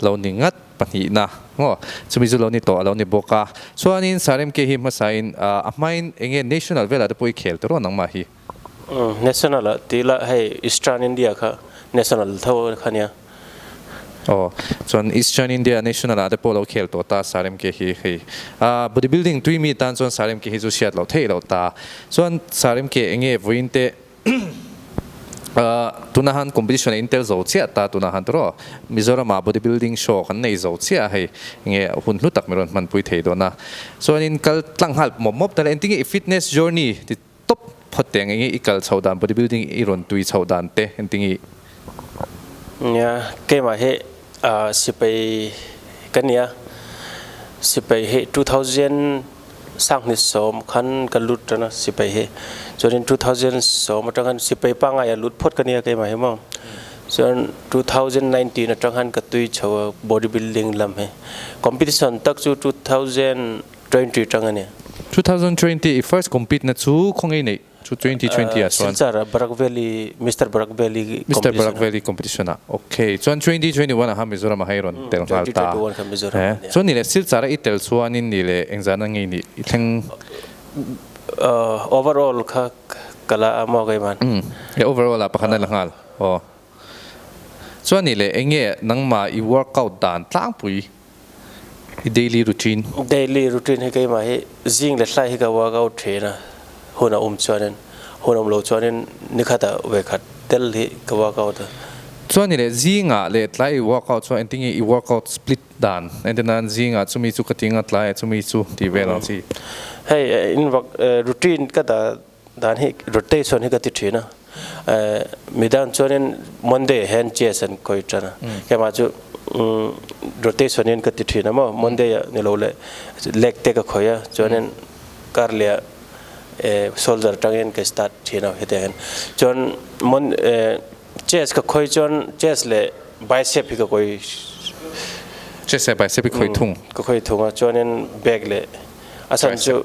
Lo ni ngat pahnihna ngaw chumi chu lo ni tawh a lo ni bawk a. Chuanin Saremke hi hmasain a hmain eng nge national velah te pawh i khel ta ruah nangmah hi. Umm national ah tih ila hei eastern India kha national tho kha nia. Aw chuan eastern India national ah te pawh lo khel tawh ta Saremke hi hei a bodybuilding tui mi tan chuan Saremke hi chu hriat loh theih loh ta. Chuan Saremke eng nge vawiin te tuna han competition a intel zo chiah ta tunah han tiraw Mizorama body building show kan nei zo chiah a hei nge hun hlu tak min rawn hman pui thei dawn a chuanin kal tlang nghal mawp mawp dala engtin nge i fitness journey ti tawp phawt te ang enge i kal chhoh dan body building i rawn tui chhoh dan te engtin nge i Nia, keimah hi sipei ka nia, sipei hi two thousand sanghnih sawm khan ka lut tana sipei hi, chuanin two thousand sawm atang hian sipei pangngai ah lut phawt ka nia keimah hi maw, chuan two thousand nineteen atang hian ka tui chho a body building lam hi, competition tak chu two thousand twenty atang a ni. Two thousand twenty i first compete na chu khawngei neih Chu twenty twenty ah chuan. Silchar Barak Valley Mister Barak Valley competition a. Mister Barak Valley competition ah ok chuan twenty twenty one ah kha Mizoram ah kha i rawn tel nghal ta a e chuan nileh Silchar ah i tel chuan in nileh engzana ngei nih i thleng Overall kha ka la a maw ka i man? Umm e overall ah pakhat a la nghal aw chuan nileh enge nangmah i workout dan tlangpui. i daily routine. Daily routine hi keimah hi zing leh hlai hi ka work out thin a, hun a awm chuanin, hun awm lo chuanin ni khata ve khat tel hi ka work out a. Chuan ni leh zinga leh tlai i work out chuan engtin nge i work out split dan engti nan zinga chumi chu ka tinga tlai ah chumi chu tih vel ang chi. Hei in vak routine ka dah Dan hi rotation hi ka ti thin a, mi dan chuanin Monday ah hian chess an kawi tan a, kemah chu rotation hian ka ti thin a maw, Monday ah ni lo leh leg te ka khawih a, chuanin kar leh soldier tangin ka start thin a hetiang hian, chuan chess ka khawi chuan chess leh bicep hi ka kawi chess leh bicep hi ka khawi thung, ka khawi thung a, chuanin back leh a chhan chu.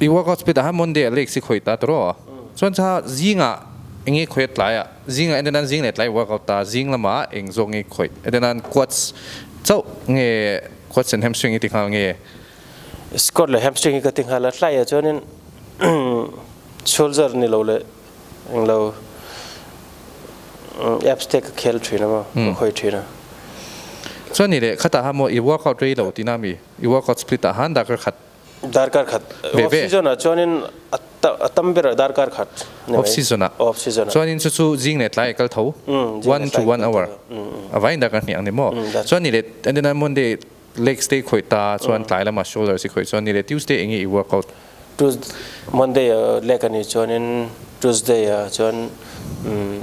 I work out speed ah hian Monday a lake si khawih ta tur aw. Chuan kha zingah enge khawih a tlai ah zingah enda nan zing leh tlai i work out ta zing lama eng zawk nge i khawih enda nan quads chauh nge quads and hamstring i ti nghal nge. Squat leh hamstring hi ka ti nghal a tlai ah chuanin shoulder ni lo leh englo abs te ka khel thin a maw ka khawih thin a. Chuan ni leh khatah hian maw i work out rei lo tina mi i work out split ah hian darker khat Darkar khat. Off season ah chuanin a tam ber a darkar khat ni mai. Off season ah. Off season ah. Chuanin chu chu zing leh tlai a kal tho. One to one hour. A vai in darkar hniah ang ni maw? Chuan ni leh an dena Monday legs te i khawih ta chuan tlai lam ah shoulders i khawih chuan ni leh Tuesday eng nge i work out? Tues Monday ah leg a ni chuanin Tuesday ah chuan umm.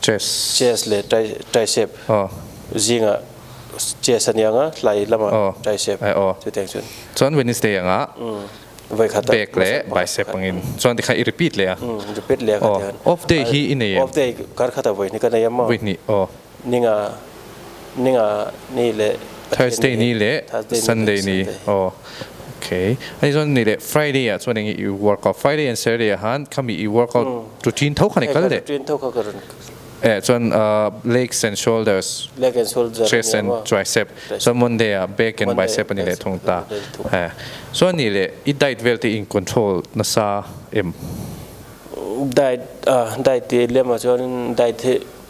Chess. Chess leh tricep zingah chess a niang a, hlai lamah tricep chutiang chuan. Chuan Wednesday anga back leh bicep angin chuan tikhan i repeat leh a. Repeat leh a ka tiang. Off day hi i nei em? Off day kar khata vawi hnih ka nei a maw? Vawi hnih aw. Ninga. Thursday ni leh Sunday ni aw ok ani chuan ni leh Friday ah chuan eng i work out Friday and Saturday ah han khami i work out tu ṭin tho kha ni kal leh eh chuan legs and shoulders chest and tricep chuan Monday ah back and bicep ani leh thung ta eh chuan ni leh i diet vel te in control nasa em.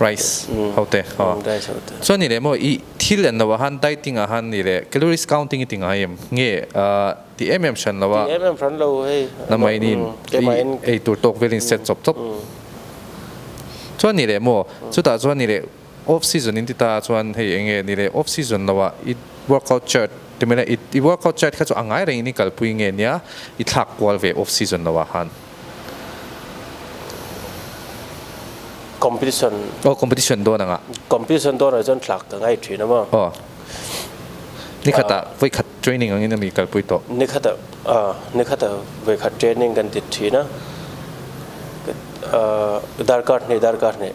Rice ho te aw chuan ni leh maw i thil en lo ah han dieting ah han ni leh calories counting i ti ngai em nge ti em em hran lo a na mai ni i eitur tawk velin set chawp chawp chuan ni leh maw chutah chuan ni leh. Off season in ti ta chuan hei eng nge ni le off season lo ah i workout chart ti mai le i workout chart kha chu a ngai reng in i kalpui nge nia i thlak kual ve off season lo ah han. Competition. Aw competition dawn ang ah. Competition dawn ah chuan thlak ka ngai thin a maw. Aw ni khat ah vawikhat training ang in a mi kalpui tawh. Ni khat ah ah ni khat ah vawikhat training kan ti thin a darkar hneh darkar hneh.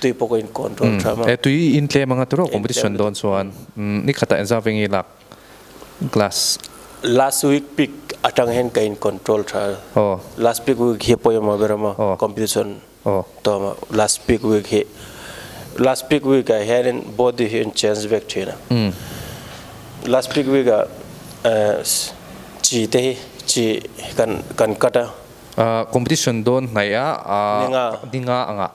Tui pawh ka in control tha mah. E tui in tlem anga turo competition dawn chuan ni khatah in zau vengin lak glass. Last week pic atang hian ka in control tha a. Aw. Last pic week hi pawimawh a ber amaw. Aw. Competition. Aw. Tawh amaw last pic week hi. Last pic week ah hianin body hi in change vek thin a. Umm. Last pic week ah chi te hi chi kan kan cut a. Competition dawn hnaih a. Ninga. Ninga anga.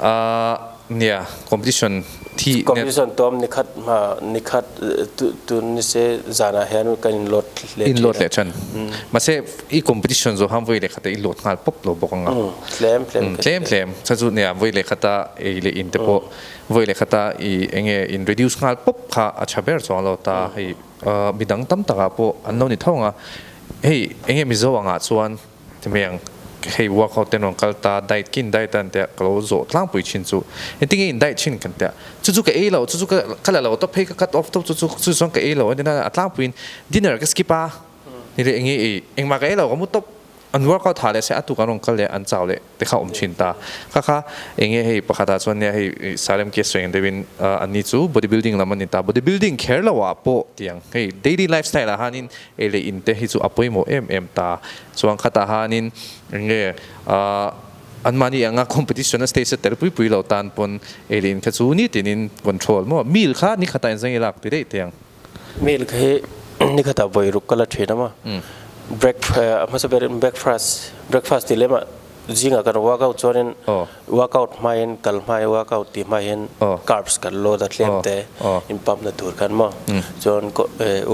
A nia competition thi net. Competition tuam nikhat hma nikhat tun ni se zanah hian kan in load leh thin a. In load leh than. Mahse i competition zawh hang vawi leh khatah i load nghal pawp lo bawk anga. Tlem tlem ka ti a. Tlem tlem chha chu nia vawi leh khata ei leh in te pawh vawi leh khata i eng nge in reduce nghal pawp kha a tha ber chuang lo ta hei mi dang tam takah pawh an lo ni tho ang a. Hei eng nge Mizo angah chuan. Chumi ang, hei workout ten rawn kal ta, diet khi indiet a kan tia ka lo zawh tlangpui thin chu i tinge in diet thin kan tia chu chu ka ei lo chu chu ka ka la lo ta phei ka cut off tawp chu chu chu chuan ka ei lo a nia a tlangpuiin dinner ka skip a ni leh eng nge i engmah ka ei lo ka mu tawp an workout thah leh se a tu kan rawn kal leh an chau leh Te kha awm thin ta. Kha kha, enge hei pakhatah chuan nia hei Salem case vengin deuhin an ni chu body building lam a ni ta. Body building kher lohah pawh tiang hei daily life style ah hianin ei leh in te hi chu a pawimawh em em ta. Chuan khatah hianin eng nge anmahni anga competition a stage a tel pui pui lo tan pawn ei leh in kha chu nitinin control maw, mi kha nikhatah in zeng i lak ti daih tiang. Milk hi ni khatah vawi ruk ka la thin a maw? Break a hmasa ber in breakfast, breakfast tih lem ah zing ah ka rawh workout chuan in workout hmai in kal hmai workout tih hmai in carbs kan load a tlem te in pump na tur khan maw chuan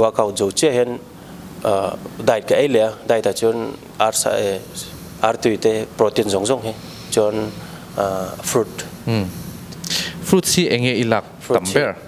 workout zo chiah hian diet ka ei leh a diet ah chuan arsa e ar tui te protein zawng zawng hi chuan fruit fruits hi eng nge i lak tam ber?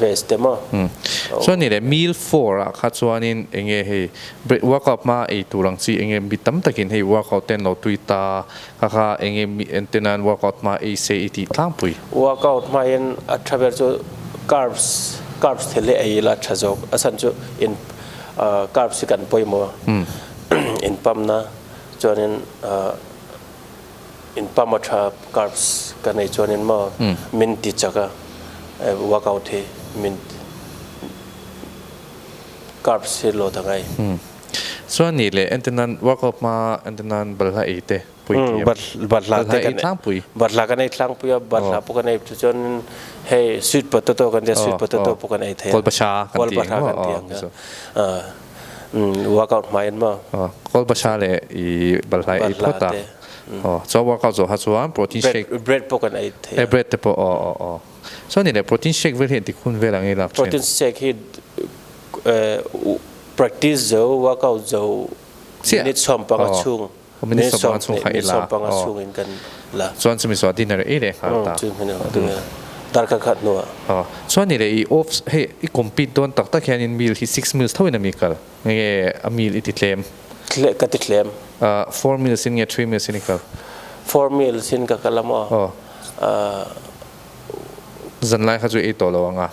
ve stem a. Chuan ni leh mil four ah kha chuanin enge hei break workout hma ei tur ang chi enge mi tam takin hei workout te an lo tui ta kha kha enge mi ente nan workout hma ei se i tih tlangpui. Workout hmain a tha ber chu carbs carbs thil hi ei ila a tha zawk a san chu in carbs hi kan pawimawh a in pump na chuanin. In pump a tha carbs ka nei chuan in maw min ti chak a workout hi min carbs hi lot a ngai. Chuan ni le engtin nan workout hma engtin nan balhla ei te pui thei em? Balhla te ka nei balhla ka nei tlang pui a balhla pawh ka nei chu chuan in hei sweet potato kan tia sweet potato pawh kan ei thei a kolbasa kan ti ang a. Workout hmai an mah. Kolbasa leh i balhla ei phawt a. Aw chuan workout zawh ha chuan protein shake. Bread bread pawh kan ei thei a. E bread te pawh aw aw aw. Chuan ni leh protein shake vel hi engtik hun vel angin lak thin. Protein shake hi practice zo workout zo minute sawmpanga chhung. Min sawm pang a min sawm panga chhung in kan la. Chuan chu miso a dinner ei leh nghal ta. Chu hming ang tunge dar khat khat hnu a. Chuan ni leh i off hei i compete dawn tak tak hian in meal hi six meals tho in a mi kal nge a meal i ti tlem? Tleh ka ti tlem. Four meals in nge three meals in i kal? Four meals in ka kal a maw? Zanlai kha chu ei tawh lo anga.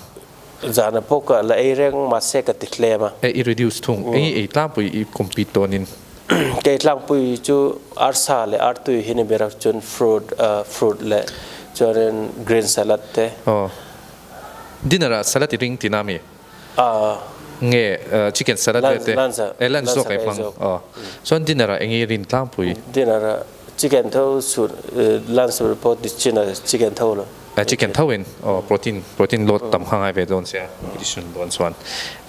Zan a pawk a la ei reng mahse ka ti hlem a. I reduce thung eng i tlangpui i compete dawn in. Kei tlangpui chu arsa leh artui hi ni ber a chuan fruit fruit leh chuanin green salad te. Aw dinner ah salad i ring ti na mi? Aw. Nge chicken salad vel te? Lunch ah. Lunch zawk a i hmang aw chuan dinner ah eng i rin tlangpui? Dinner ah chicken tho suh lunch report ni chin ah chicken tho lo. A chicken tho in aw protein protein load tam kha ngai ve dawn sia competition dawn chuan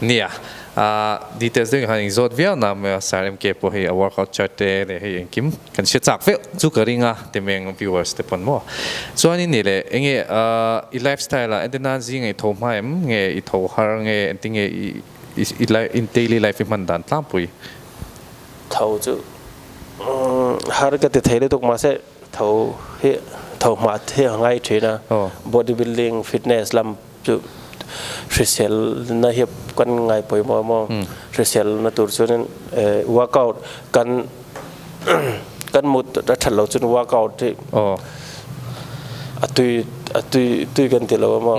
nia ah details deuh in khan inzawt viau na mai a sir MK pawh hei a workout chart te leh hei engkim kan hria chak viau chu ka ring a timeng viewers te pawn maw chuanin ni le enge ah i lifestyle ah entena'n zing a i tho hma em nge i tho har nge engtin nge i i daily life i hman dan tlang pui tho chu har ka ti thei lutuk mahse Tho hi tho hmah te a ngai thin a, body building fitness lam chu hrisel na hi kan ngai pawimawh a maw, hrisel na tur chuan work out kan kan mut a that lo chuan work out hi a tui kan tilo a maw.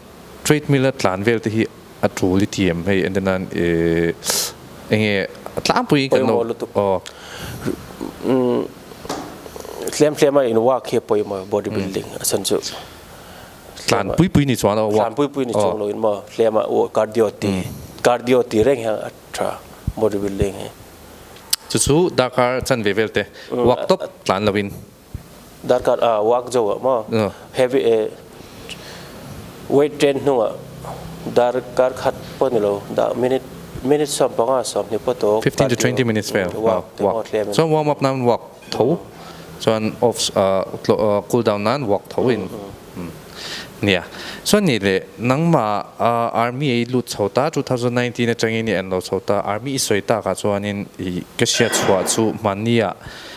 Treadmill a tlan vel te hi a tul i ti em hei and then a eh enge a tlang pui in kan lo Pawimawh lutuk Hliam hliam a in work hi a pawimawh e body building a sen chu Tlan pui pui ni chuang lo Tlan pui pui ni chuang lo in maw hliam a oh cardio ti cardio ti reng hian a tha body building hi chu chu dark a chan ve vel te work tawp tlan lo in. Darkar ah wak jo ah maw? Heavy eh weight train hnung ah darkar khat pawh ni lo dah minute minute sawm panga sawm hnih pawh tawk Fifteen to twenty minutes vel wak chuan warm up nan wak tho chuan off cool down nan wak tho in nia chuan nih leh nangmah ah army ah i lut chho ta two thousand nineteen atangin i en lo chho ta army i sawi tak ah chuan in i ka hriat chhuah chu hmanni ah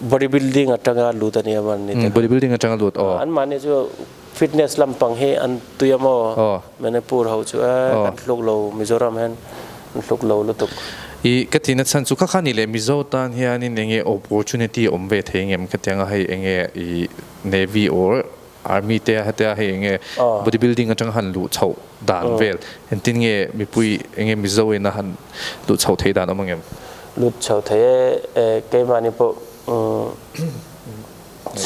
Body building atanga lut a nia mahni te khan. Body building atanga lut aw. An mahni chu fitness lampang hi an tui a maw? Manipur ho chu a kan hluk lo Mizoram hian an hluk lo lutuk. I ka tina chhan chu kha kha ni leh Mizo tan hianin enge opportunity awm ve thei ngem ka tianga hei enge i Navy or Army te hetia hei enge body building atanga han luh chhoh dan vel engtin nge mipui enge Mizo ena han luh chhoh thei dan awm ang em? Lut chhoh thei e, keimahni pawh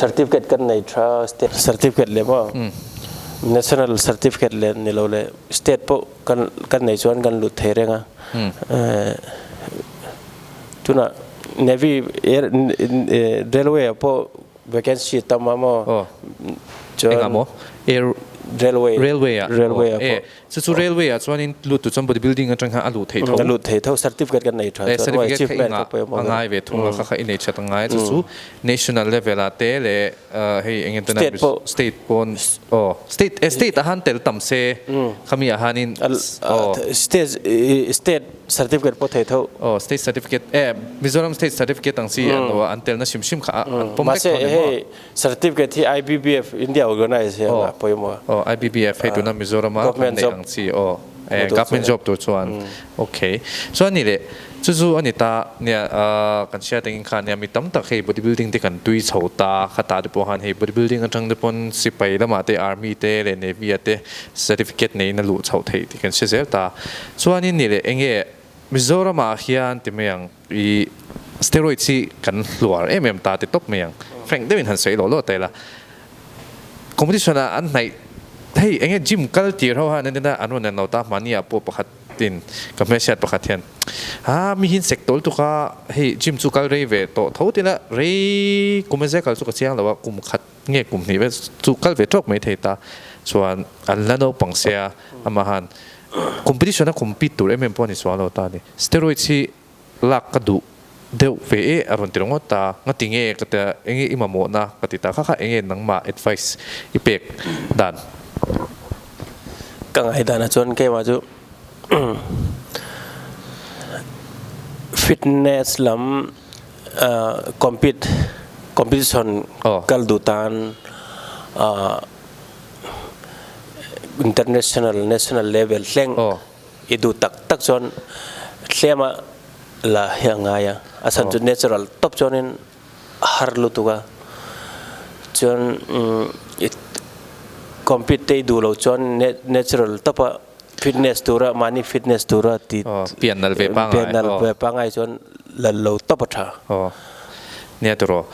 certificate kan nei tha a, state certificate leh maw national certificate leh ni lo leh state pawh kan kan nei chuan kan lut thei reng a, tunah navy railway ah pawh Vacancy a tam a maw chuan railway a pawh chu chu railway ah chuan in lut tu chuan body building atanga a luh thei tho a luh thei tho certificate ka nei tha chuan maw achievement ka pawimawh ka ngai ve thung a kha kha i nei chat angai chu chu national level ah te leh hei eng nge te pawh state pawh aw state a han tel tam se khami ah han in state state Certificate pawh thei tho. Aw state certificate e Mizoram state certificate ang chi an lo a an telna hrim hrim kha a an pawm vek tho nen maw. Mahse hei certificate hi IBBF India organise hi an lah pawih maw. Aw IBBF hei tuna Mizoram a kan neih ang chi aw e government job tur chuan ok chuan ni leh chu chu a ni ta nia kan hria tengin kha nia mi tam tak hei body building te kan tui chho ta kha tah te pawh han hei body building atang te pawn sipai lamah te army te leh navy a te certificate neina luh chho theih kan hre zel ta. Chuanin ni leh enge Mizoramah hian ti mai ang i steroids hi kan hluar em em ta ti tawp mai ang. Frank deuhin han sawi loh loh ta ila competition ah an hnaih hei enge gym kal tir ho hian nen a an rawn en lo ta mahni ah pawh pakhat in ka hmeichhiat pakhat hian aa mi hi sek tawl tuk a hei gym chu kal rei ve tawh tho tila rei kum a zia kal chu ka chiang lo a kum khat Nge kum hnih vel chu kal ve tawk mai thei ta chuan an hla naupang sia amah han competition a compete tur em em pawh a ni sual lo ta a ni. Steroids hi lak ka duh deuh ve e a rawn ti ringawt ta a, nga tinge ka ti a, enge i mamawhna ka ti ta kha kha enge nangmah advice i pek dan? Ka ngai danah chuan kei mah chu fitness lam. Compete, competition, kal duh tan international, national level thleng i duh tak tak chuan hlema la hi a ngai a, a chhan chu natural tawp chuanin a har lutuk a, chuan compete te i duh lo chuan natural tawpa. Fitness tura mahni fitness tura ti pian nal ve pangai pian nal ve pangai chuan lal lo tawp a tha. Aw nia tur aw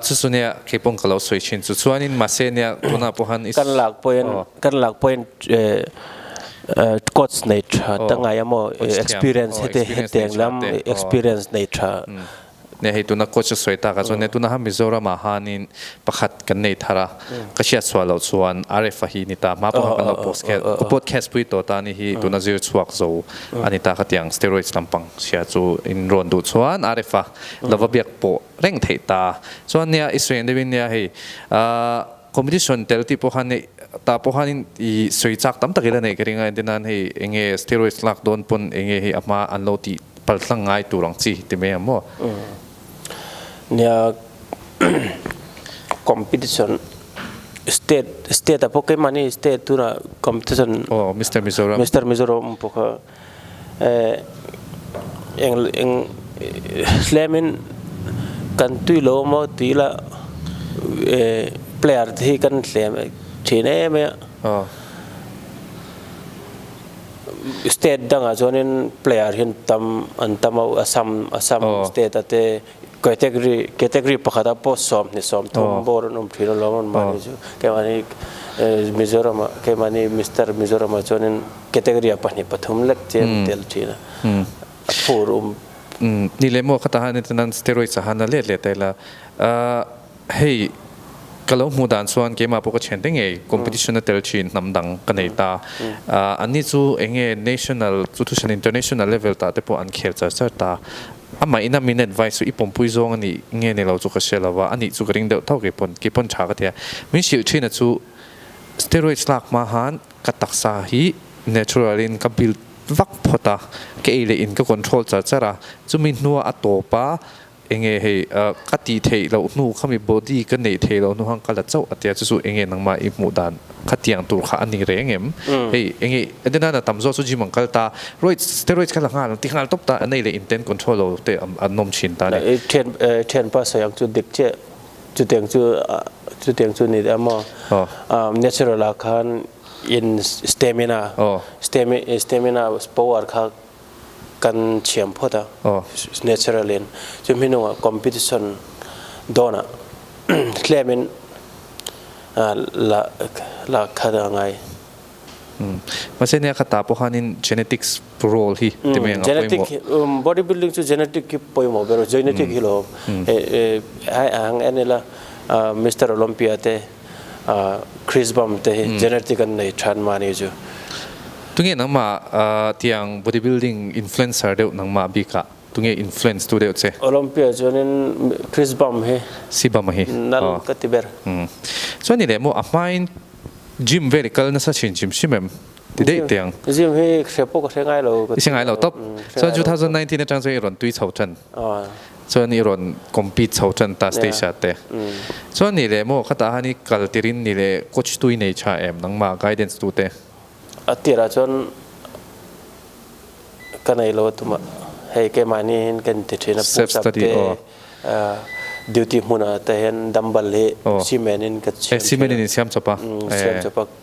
chu chu nia kei pawh ka lo sawi thin chu chuanin mahse nia tunah pawh han i kan lak pawhin kan lak pawhin coach nei tha ta ngai a maw experience hetiang lam experience nei tha. Nia hei tuna coach a sawi tak ah chuan nia tuna ha Mizoram ah han in pakhat kan nei thar a, ka hriat chhuah loh chuan RF a hi ni ta, hma pawh kha kan lo post kher, ka post kher pui tawh ta ni hi tuna zir chhuak zo a ni ta khatiang steroids lampang hria chu in rawn duh chuan RF a lova biak pawh reng theih ta, chuan nia i sawi ang deuh in nia hei ahh. Competition tel tih pawh khan hei tah pawh khan in i sawi chak tam tak ila neih ka ring a, enti nan hei eng nge steroids lak dawn pawn eng nge hei a hma an lo tih palthlang ngai tur ang chi ti mai ang maw? Nia competition state state a pawh keimah ni state tunah competition Mister Mizoram Mister Mizoram pawh kha. Eh, eng eng hlemin kan tui lo maw ti ila eh player te hi kan hlem thin em em a. Aw. State dangah chuanin player hi an tam an tam a, Assam Assam state-a te. Category category pakhata pawh sawmhnih sawmthum Aw. bawr an awm thin alawm an mahni chu kemahni Mizoram-a kemahni Mister Mizoram-a chuanin category-a pahnih pathum lek che an tel thin a, a phur um. Ni leh maw khatah hian hetinan steroids-a han la let leh ta ila. Hei ka lo hmuh dan chuan keimah pawh ka thian teh ngei, competition a tel thin hnam dang ka nei ta. An ni chu eng nge national chu thusain international level tah te pawh an khel char char ta. A mah ina min advice chu i pawmpui zawng a nih nge ni lo chu ka hria lova, a nih chu ka ring deuh tho kei pawn, kei pawn tha ka tia. Min hrilh thina chu steroids lak hma han ka taksa hi natural in ka build vak phawt a, ka ei leh in ka control char char a, chumi hnua a tawp a, Eng nge hei ka tih theih loh hnu kha mi body ka neih theih loh hnu kha ka la chauh a tia chu chu eng nge nangmah i hmuh dan khatiang tur kha a ni reng em? Hei eng nge adi nana tam zawk chu gym an kal ta roids steroids kha la nghal ang ti nghal tawp ta a nei leh in ten control lo te an nawm thin ta ni. Thianpa sawi ang chu dik chiah chutiang chu chutiang chu ni a maw natural ah khan in stamina stamina power kha kan thiam phawt a naturally in chu hmi hnungah competition dawnah tlem in lak khat a ngai. Mahse nia kha ta pawh khan in genetics role hi ti mai anga pawimawh. Genetic hi body building chu genetic hi pawimawh ber a, genetic hi lo. Hei a ang en ila Mister Olympia te Chris bump te hi genetic an nei than mahni chu. Tunge nangmah tiang bodybuilding influencer deuh nangmah bik ah tunge influence tu deuh che? Olympia chuan in Chris bump hi nal ka ti ber. Chuan ni leh maw a hmain gym vel i kal nasa thin chim hrim em? Ti daih tiang. Gym hi hre pawh ka hre ngai lo. I hre ngai lo tawp. Chuan two thousand nineteen atang chuan i rawn tui chho tan. Chuan i rawn compete chho ṭan ta stage ah te. Chuan ni leh maw khatah han i kal tir in ni leh coach tu i nei ṭha em nangma guidance tu te. A tir ah chuan ka nei lo a tum a hei keimahni in ka inti ṭhin a push up te duty hmun ah te hian dumbbell hi cement in ka siam ṭhin a siam chawp a.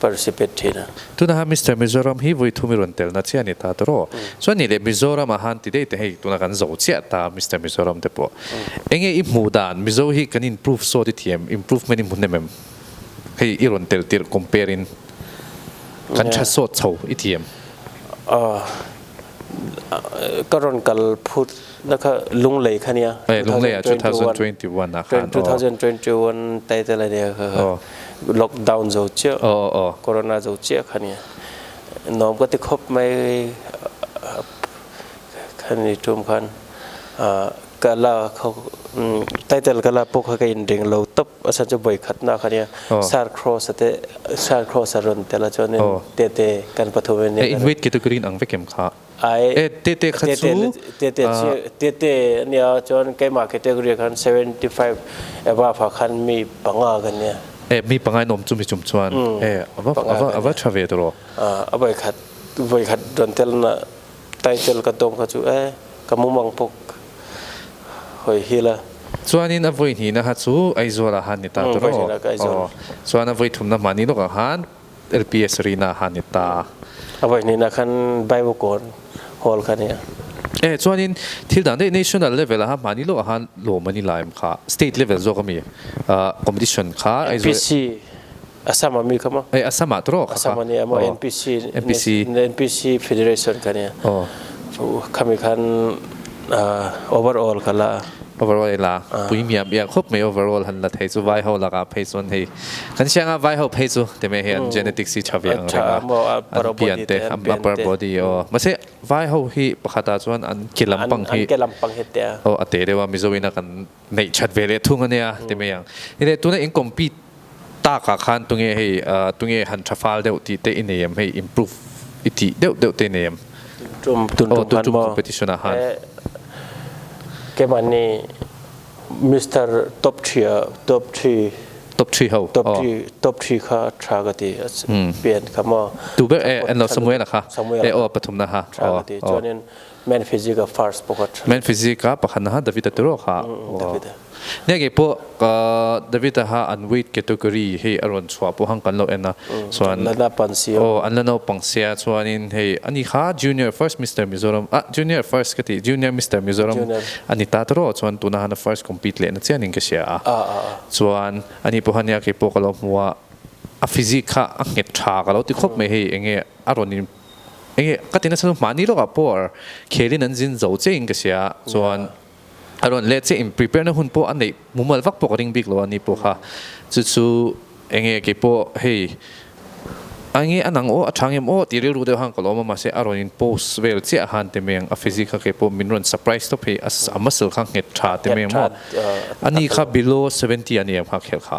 participate thin a. Tunahan Mister Mizoram hi vui thum i rawn telna chiah a ni ta tawh aw. Chuan nih leh Mizoram a han ti daih te hei tuna kan zo chiah ta a Mister Mizoram te pawh. Enge i hmuh dan Mizo hi kan improve sawt i thi em? Improvement i hmu hnem em? Hei i rawn tel tirh compare in kan tha sawt chho i thi em? Aw. Ka rawn kal phut na kha Lunglei kha nia. Hei Lunglei ah two thousand twenty one ah khan aw. Two thousand twenty one title a nia kha. Aw. Lockdown zo chiah. Aw aw aw. Corona zo chiah kha nia. Nawm ka ti khawp mai kha ni tum khan ka la khaw title ka la pawh kha ka inreng lo tawp. Pasal chu vawikhatna kha nia, sar cross a teh, sar cross a rawn telh a chuanin Tete kan pathum em nia. Invite category an ang vek em kha? Aih, Tete kha chu, Tete chu, Tete a nia chuan keimah category khan seventy five above ah khan mi panga kan nia. Eh, mi panga in awm chu mi chum chuan, eh, ava, ava, ava tha ve tawh rawh. A vawikhat, vawikhat rawn telna. Title ka tawng kha chu eh ka mum ang pawh hawi hi la. Chuanin a vawi hnihna ha chu Aizawl ah han ni ta tur aw aw chuan a vawi thumna mahni lawk ah khan lpi Sarina ah han ni ta. A vawi hnihna khan Baiwakawn Hall kha nia. Eh chuanin thil dang deuh national level ah mahni lawk ah khan lawm a ni la em kha state level zawk ami competition kha Aizawl. Assam ami ka ma. Eh Assam ah trawk a ka. Aw NPC NPC federation ka nia. Aw. Khami khan over all ka la a. Over all i la a puihmiam iak khawp mai over all han la thei chu vai ho lakah phei chuan hei kan siang a vai ho phei chu ti mai hi an genetics hi tha ve ang reng a an pian te an upper body aw mahse vai ho hi pakhat ah chuan an ke lampang hi aw a teh deuh a mizo ina kan Neih that ve leh thung ania ti mai ang. I neih tuna in compete tak ah khan tunge hei tunge han tha fal deuh tih te i nei em hei improve i tih deuh deuh te i nei em? Tum tum tum khan maw? Competition ah khan. Kem an ni Mister top three a top three. Top three ho? Top three top three kha tha ka ti a pian kha maw? Tu ber e an lo Samuel a kha? Samuel a kha. E aw pathum na ha. Tha ka ti chuan in. Men physique a first pawh ka tha. Men physique a pakhat naha David a ti rawh kha. David a. Nia kei pawh David a ha an weight category hei a rawn chhuah pawh hang kan lo en a. Chuan. An la naupang sia. Aw an la naupang sia chuan in hei a ni kha junior first Mister Mizoram ah junior first ka ti junior Mister Mizoram a ni ta ta rawh chuan tuna han a first compete leh na chian in ka hria a. Ah ah ah. Chuan a ni pawh kha nia kei pawh ka lo hmu a a physique kha a nghet tha ka lo ti khawp mai hei eng nge a rawn in Eng nge ka ti nasa chu mahni lawkah pawh ar khelin an zin zo che in ka sia chuan a rawn leh che in prepare na hun pawh a neih mumal vak pawh ka ring bik lo a ni pawh kha chu chu eng nge kei pawh hei eng nge a nang aw a thang em aw tih rilru deuh han ka la awm a mahse a rawn in post vel chiah a han ti mai ang a physique kha kei pawh min rawn surprise tawp hi a muscle kha nghet tha te mai ang maw a ni kha below seventy a ni ang kha khel kha.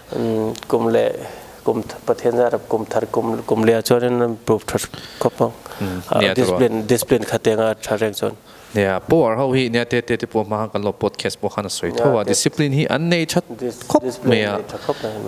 Kum leh kum Pathian zat a kum thar kum kum leh ah chuan in an prove tha khawp ang a discipline discipline khat eng a tha reng chuan. Nia Paw ar ho hi nia te te te pawh hma khan kan lo podcast pawh khan a sawi tho a discipline hi an nei tha khawp mai a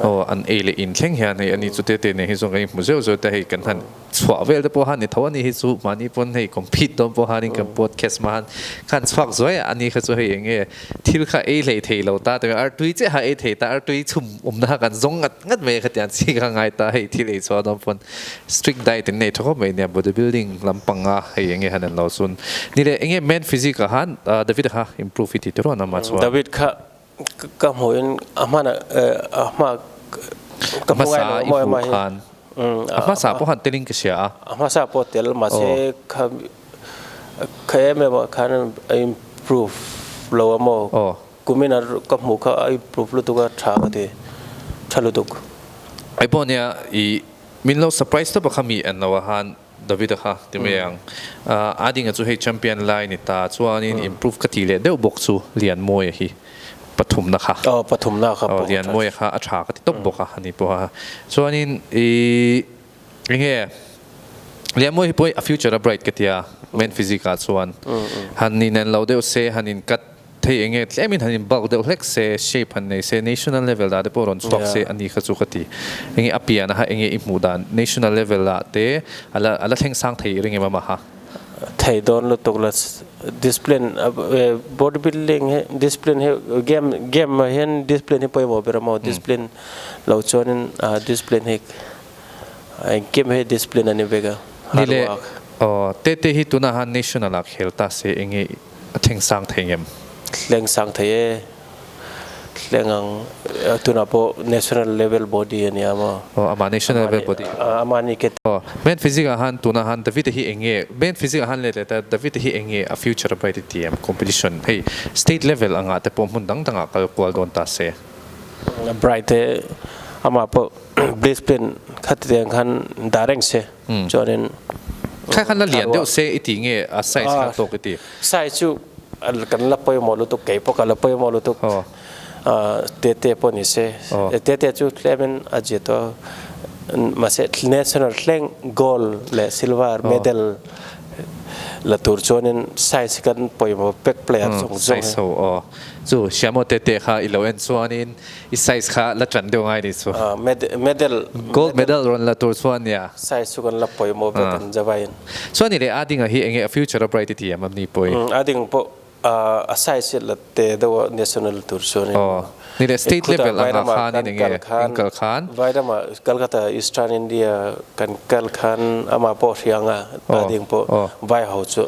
aw an ei leh in thleng hian hei ani chu te te nen hi zawn kan inhmu zeuh zeuh te hei kan han Chhuah vel te pawh han ni tho a ni hi chu mahni pawn hei compete dawn pawh hanin kan podcast ma han khan chhuak zuai a ani kha chu hei eng nge thil kha ei hlei thei lo ta tawh artui che ha ei thei ta artui chhum awmna kha kan zawng ngat ngat mai kha tiang chi kha a ngai ta hei thil ei chhuah dawn pawn strict diet in nei tha khawp mai nia body building lam panga hei eng nge han en lo chun ni le eng nge men physique a han David a kha improve hi ti tawh reuh an awm a chhuah. David kha Ka hmuhin a hman a hma ka hmu ngai lo maw emaw hi? A hmasa pawh han telin ka hria a. A hmasa pawh tel mahse kha kha em em ah khan a improve lo a maw? Kumin a ka hmuh kha a improve lutuk a tha ka ti, tha lutuk. Ipawh nia i min lo surprise tawp a kha mi englo a han. David a kha ti mai ang. A dinga chu hei champion lai ni ta chuanin improve ka ti leh deuh bawk chu Lian Mawi a hi. Pathumna kha. Aw pathumna kha pawh. Lian Mawi a kha a tha ka ti tawp bawk a ani pawh a. Chuanin i eng nge Lian Mawi hi pawh a future a bright ka tia. Men physique ah chuan. Han inen lo deuh se han in cut. Thei eng nge tlemin han in bulk deuh hlek se, shape han nei se, national level dah te pawh rawn chhuak se a ni kha chu ka ti. Eng nge a pian a ha eng nge i hmuh dan national level ah te ala ala thleng sang thei ring em a mah a. Thei dawn lutuk la discipline body building hi discipline hi game game ah hian discipline hi pawimawh ber a maw discipline lo chuanin discipline hi eng game hi discipline a ni vek a hard work. Nile aw te te hi tuna han national ah khel ta se eng nge. A thleng sang thei ngem. Thleng sang thei e. Thleng ang e. Tunah pawh national level body a nia maw? Aw, amah national level body. Aw, amah ni ke. Aw, Main Physics ah han tunah han David-a hi eng nge, Main Physics ah han let leh ta, David-a hi eng nge a future a bright i ti em? Competition, hei, state level angah te pawh hmun dang dang ah kal kual dawn ta se. Bright e. Amah pawh discipline kha ti ang khan dah reng se. Chuanin sai chu kan la pawimawh lutuk kei pawh kan la pawimawh lutuk Tete pawh ni se Tete chu tlem a zia tawh a mahse national thleng gold leh silver medal la tur chuanin sai chu kan pawimawh pek player zawng zawng. I size kha la ṭan deuh ngai ni chu. Ah, med, medal. Gold medal rawn la tur chuan nia. Size chu kan la pawimawh vek Ah. ang Java in. Chuan ni leh, Ading-a hi enge a future-a bright i ti em am ni pawhi? Umm, Ading pawh ah, a size hi la te deuh a national la tur chuan in. Aw, ni leh, state level angah khanin enge in kal khan? Vairama, Calcutta, Eastern India, kan kal khan amah pawh a hria ang a, Ading pawh, Vaiho chu.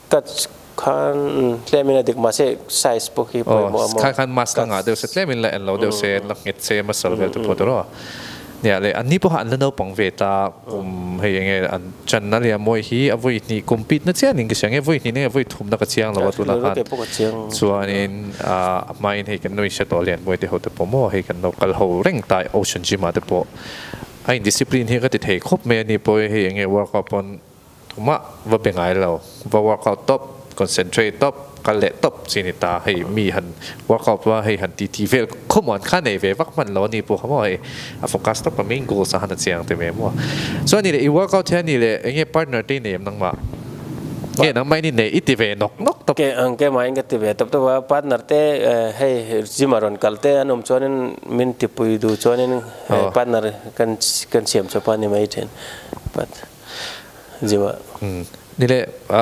Cut khan umm tlemin a dik mahse size pawh khi pawimawh a maw. Khan khan mask a ngah deuh se tlemin la en lo deuh se la nghet se masal vel te pawh tawrh a ni a le an ni pawh kha an la naupang ve ta umm hei eng nge an channa leh a mawi hi a vawi hnih compete na chianin ka hria nge vawi hnih na nge vawi thumna ka chiang lo a tunah khan chuanin ah a hmain hei kan nuihria tawh lian buai te ho te pawh maw hei kan lo kal ho reng ta ocean gym ah te pawh a indiscipline hi ka ti thei khawp mai a ni pawh e hei eng nge workout pawn Mah va be ngai lo, va workout tawp, concentrate tawp, kal leh tawp chi ni ta, hei mi han workout va hei han titi vel khawmuh an kha nei ve vak hman lo a ni pawh kha maw hei a focus tawp a main goals ah khan a chiang teh ve maw. Chuan ni leh i workout hian ni leh enge partner te i nei em nangmah? Nge nangmah i ni nei? I ti ve nawk nawk tawp. Engkemah in ka ti ve tawp tawp a, partner te hei gym a rawn kal te an awm chuanin min tipui duh chuanin hei partner kan siam chhuah pah a ni mai thin. zio ah. Umm ni leh a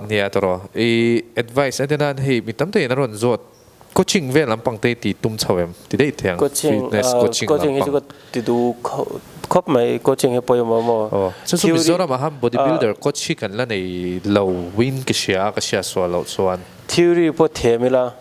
nia ta raw i advice a de nan hei mi tam tak in a rawn zawt coaching vel lampang te ti tum chho em ti daih thiang fitness coaching lampang ti du khawp mai coaching hi pawimawh a maw aw chu chu mizoram aham body builder coach hi kan la nei lo win ka hria a ka hriat sual loh chuan theory pawh thiam ila.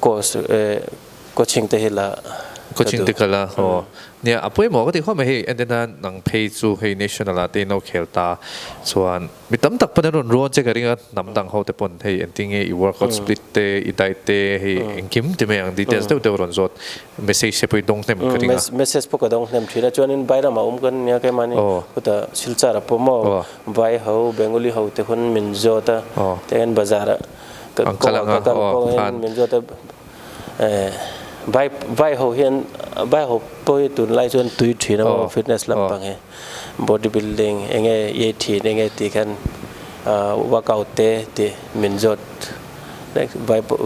course coaching te hi la ka duh. Coaching te ka la haw nia a pawimawh ka tih khaw mai hei a nen a nang phei chu hei national ah te i no khel ta chuan mi tam tak pawn an rawn ruang che ka ring a hnam dang ho te pawn hei engtin nge i workout split te i diet te hei engkim ti mai ang details deuh deuh a rawn zawt message te pawh i dawng hnem ka ring a. Message pawh ka dawng hnem thin a chuanin vai lamah awm ka ni nia kei mahni khutah silchar a pawm maw vai ho bengali ho te hun min zawt a tiangin bazar ah. Kan kal ang a, aw pakhan. Vaiho hian vaiho pawh hi tun lai chuan tui thin a awm fitness lampang hi body building enge iei thin enge tih khan workout te tih min zawt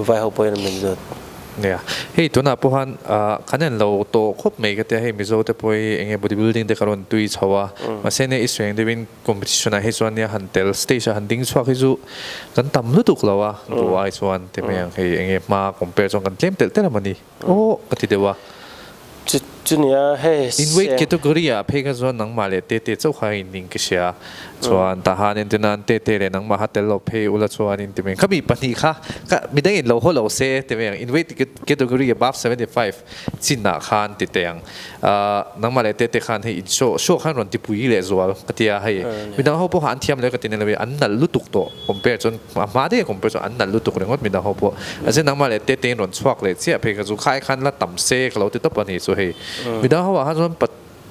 vaiho pawhin min zawt. Nia hei tunah pawh khan kan en lo tawh khawp mai ka tia hei mizo te pawh hi enge body building te ka rawn tui chho a mahse nia i sueng deuhin. Competition ah hi chuan nia han tel stage ah han ding chhuak hi chu kan tam lutuk lo a duh ai chuan ti mai ang hei enge hma compare chuan kan tlem telh telh a mah ni awh ka ti deuh a. Chu chu nia hei se. In weight category ah phei kha chuan nangmah leh Tete chauh kha in ning ka hria chuan tah han en tina an Tete leh nangmah kha tel lo phei ula chuan in ti mai ang khami pahnih kha ka midang in lo haw lo se ti mai ang in weight category above seventy five. Chin ah khan ti teh ang. Nangmah leh Tete khan hei inshoh shoh khan rawn ti pui leh zual ka ti a, hei midang ho pawh khan an thiam leh ka ti nello i an nalh lutuk tawh compare chuan a hma deuh compare chuan an nalh lutuk ringawt midang ho pawh. A ziah nangmah leh Tete in rawn chhuak leh chiah phei kha chu khai khan la tam se ka lo ti tawp a ni chu hei. Midang ho ah khan chuan pa.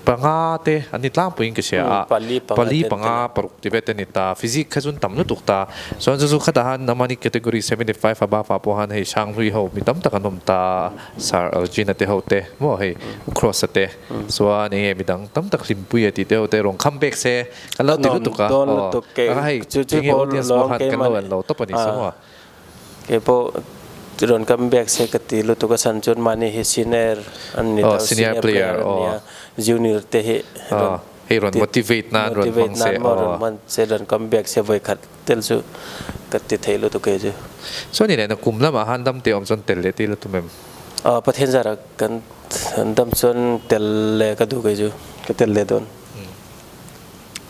Panga te an ni tlangpui in ka hria a, pali panga paruk ti vet an ni ta, physic kha chuan tam lutuk ta, chuan chu chu khata han amahni category seventy five above ah pawh han hei sanghlui ho mi tam tak an awm ta, sir Algina te ho te maw hei Ucross te chuan enge midang tam tak hlimpui a tih te ho te rawn come back se kan lo ti lutuk a, aw, anga hei enge audience pawh khan kan lo en lo tawp a ni sa maw. Keipawh rawn kam biak se ka ti lutuk a san chuan mahni hi siner an ni lo, senior player an nia, junior te hi rawn hei rawn motivate nan rawn hmang se aw, rawn hman se rawn kam biak se vawi khat tel chu ka ti theih lutuk e chu. Chuan i neihna kum lamah han dam teh awm chuan tel leh tih lutuk em? Aw Pathian zarah kan dam chuan tel leh ka duh ke chu, ka tel leh dawn.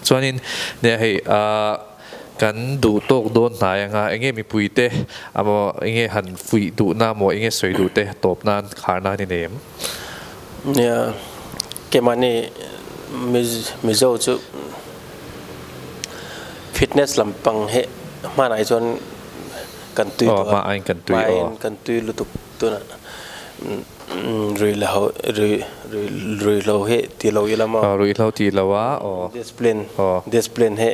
Chuanin nia hei a. Kan duh tawk dawn hnai ang a, enge mipui te amaw, enge han fuih duhna amaw, enge sawi duh te tawp nan khar nan i nei em? Kemawni Mizo chu fitness lampang hi hmanah hi chuan kan tui duh a, hmain kan tui lutuk. Tuna rui la ho rui rui rui hlo he ti lo i lam a. Aw rui hlo ti lo a aw. Discipline aw. Discipline he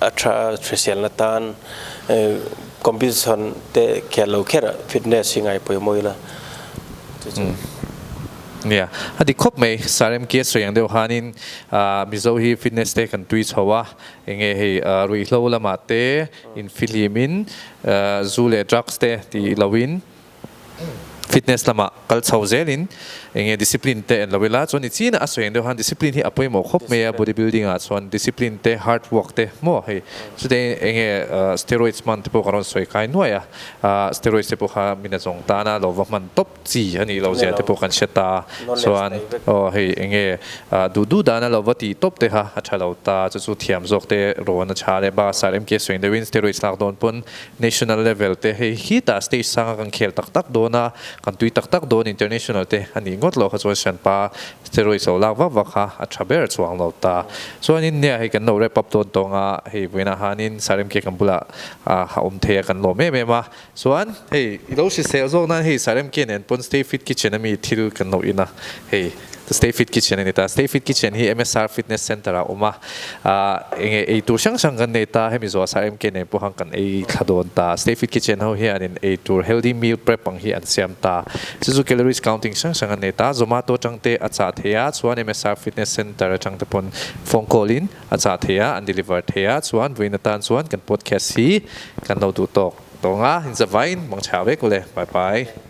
a tha a hriselna atan competition te khel lo kherah fitness hi ngai pawimawh ila chu chu. Nia a dik khawp mai sarem kia sawi ang deuh hanin ah mizo hi fitness te kan tui chho a enge hei rui hlo lamah te infihlimin ah zu leh drugs te tih lo in. Fitness lamah kal chho zelin eng nge discipline te en lo ila chuan ni chin a a sawi ang deuh han discipline hi a pawimawh khawp mai a body building ah chuan discipline te hard work te maw hei chute eng nge steroids hman te pawh ka rawn sawi khai nuai a steroids te pawh kha min a zawng tan a lo va hman tawp chi a nih loh ziah te pawh kan hre ta chuan aw hei eng nge duh duh dan a lo va ti tawp te kha a tha lo ta chu chu thiam zawk te rawn a tha leh bus ah lemke sawi ang deuhin steroids lak dawn pawn National level te hei hi tah stage sanga kan khel tak tak dawn a, kan tui tak tak dawn international te a nih ngawt loh kha chuan Sianpa steroids lo lak vak vak kha a tha ber chuang lo ta. Chuanin hne ah hei kan lo wrap up dawn tawng a, hei Buaina hanin Saremkhe kan bulah ah a awm thei a kan lawm em em a, chuan hei i lo hrisel zawk nan hei Saremkhe nen pawn Stay Fit Kitchen ami thil kan lo in a, hei. Stay Fit Kitchen a ni ta. Stay Fit Kitchen hi MSR Fitness Centre ah a awm a. Eng nge ei tur hrang hrang kan nei ta, hemi zawh a sa em ke nen pawh hang kan ei thla dawn ta. Stay Fit Kitchen ho hianin ei tur healthy meal prep ang hi an siam ta. Chu chu calories counting hrang hrang an nei ta. Zomato atang te a chah thei a, chuan MSR Fitness Centre atang te pawn phone call in a chah thei a, an deliver thei a. Chuan vawiin atan chuan kan podcast hi kan lo duh tawk. Tawng a, inzavaiin hmang chhak vek u le. Bye bye.